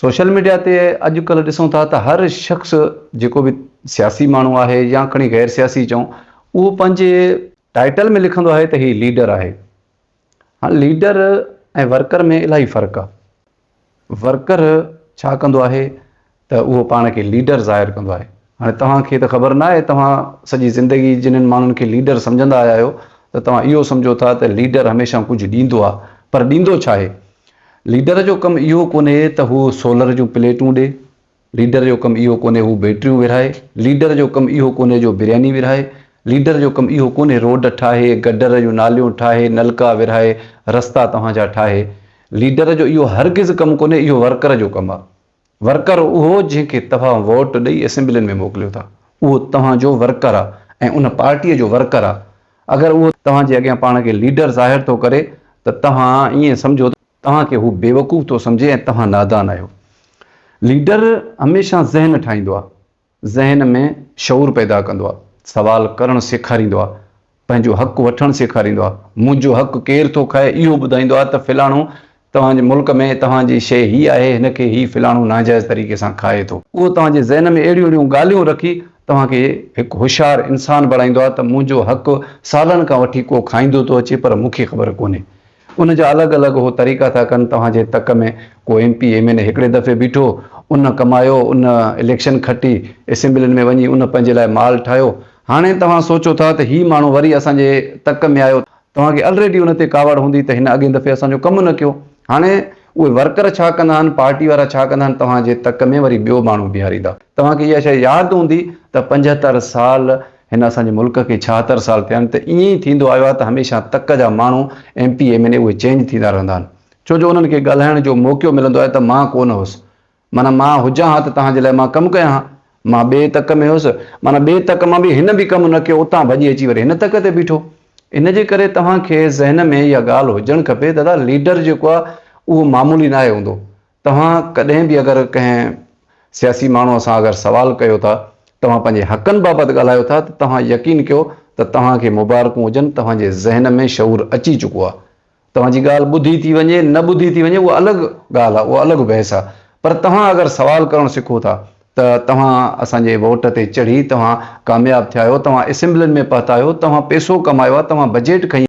Social media تي اڄ ڪلهه ڏسون ٿا ته هر شخص جيڪو به سياسي ماڻهو آهي يا کڻي غير سياسي چئون اهو پنهنجي ٽائيٽل ۾ لکندو آهي ته هي ليڊر آهي هاڻ ليڊر ۽ ورڪر ۾ الاهي فرق آهي ورڪر ڇا ڪندو آهي ته اهو پاڻ کي ليڊر ظاهر ڪندو آهي. هاڻي توهان کي ته خبر ناهي، توهان سڄي زندگي جنھن ماڻهن کي ليڊر سمجهندا آيا آهيو ته توهان اهو سمجهو ٿا ته ليڊر هميشه ڪجهه ڏيندو آهي پر ڏيندو ڇا آهي؟ ليڊر جو ڪم اهو ڪونهي ته هو سولر جون پليٽون ڏي، ليڊر جو ڪم اهو ڪونهي هو بيٽريون ورهائي، ليڊر جو ڪم اهو ڪونهي جو برياني ورهائي، ليڊر جو ڪم اهو ڪونهي روڊ ٺاهي، گڊر جون ناليون ٺاهي، نلڪا ورهائي، رستا توهان جا ٺاهي. ليڊر جو اهو هرگز ڪم ڪونهي، اهو ورڪر جو ڪم آهي. ورڪر اهو جنهن کي توهان ووٽ ڏئي اسيمبلين ۾ موڪليو ٿا اهو توهان جو ورڪر آ ۽ ان پارٽيء جو ورڪر آ اگر اهو توهان جي اڳيان پاڻ کي ليڊر ظاهر ٿو ڪري ته توهان ائين سمجهو ته توهان کي هو بيوقوف ٿو سمجهي ۽ توهان نادان آهيو ليڊر هميشه ذهن ٺاهيندو آ ذهن ۾ شعور پيدا ڪندو آهي، سوال ڪرڻ سيکاريندو آهي، پنهنجو حق وٺڻ سيکاريندو آهي، منهنجو حق ڪير ٿو کائي اهو ٻڌائيندو آهي ته فلاڻو توهان جي ملڪ ۾ توهان جي شيء هي آهي هن کي هي فلاڻو ناجائز طريقي سان کائي ٿو. اهو توهان جي ذهن ۾ اهڙيون اهڙيون ڳالهيون رکي توهان کي هڪ هوشيار انسان بڻائيندو آهي ته منهنجو حق سالن کان وٺي ڪو کائيندو ٿو اچي پر مون کي خبر ڪونهي ان جا الڳ الڳ هو طريقا ٿا ڪن توهان جي تڪ ۾ ڪو M P M N A هڪڙي دفعي بيٺو ان ڪمايو ان اليڪشن کٽي اسيمبلين ۾ وڃي ان پنهنجي لاء مال ٺاهيو هاڻي توهان سوچو ٿا ته هي ماڻهو وري اسان جي تڪ ۾ آيو توهان کي الريڊي ان تي ڪاوڙ هوندي ته هن اڳين دفعي اسان جو ڪم نه ڪيو هاڻي اهي ورڪر ڇا ڪندا آهن پارٽي وارا ڇا ڪندا آهن توهان جي تڪ ۾ وري ٻيو ماڻهو بيهاريندا توهان کي اها شيء ياد هوندي ته پنجهتر سال هن اسان جي ملڪ کي ڇاهتر سال ٿيا آهن ته ائين ئي ٿيندو آيو آهي ته هميشه تڪ جا ماڻهو M P M N A اهي چينج ٿيندا رهندا آهن ڇو جو انهن کي ڳالهائڻ جو موقعو ملندو آهي ته مان ڪونه هوس معنيٰ مان هجان ها ته توهان جي لاء مان ڪم ڪيان ها مان ٻئي تڪ ۾ هوس معنيٰ ٻئي تڪ مان به هن به ڪم نه ڪيو اتان ڀڄي اچي وري هن تڪ تي بيٺو ان جي ڪري توهان کي ذهن ۾ اها ڳالهه هجڻ کپي دادا ليڊر جيڪو آهي اهو معمولي ناهي هوندو توهان ڪڏهن به اگر ڪنهن سياسي ماڻهوء سان اگر سوال ڪيو ٿا، توهان پنهنجي حقن بابت ڳالهايو ٿا ته توهان يقين ڪيو ته توهان کي مبارڪون هجن توهان جي ذهن ۾ شعور اچي چڪو آهي. توهان جي ڳالهه ٻڌي ٿي وڃي نه ٻڌي ٿي وڃي اها الڳ ڳالهه آهي اها الڳ بحث آهي پر توهان اگر سوال ڪرڻ سکو ٿا ته توهان اسان جي ووٽ تي چڙهي توهان ڪامياب ٿيا آهيو توهان اسيمبلين ۾ پهتا آهيو توهان پيسو ڪمايو آهي توهان بجيٽ کنئي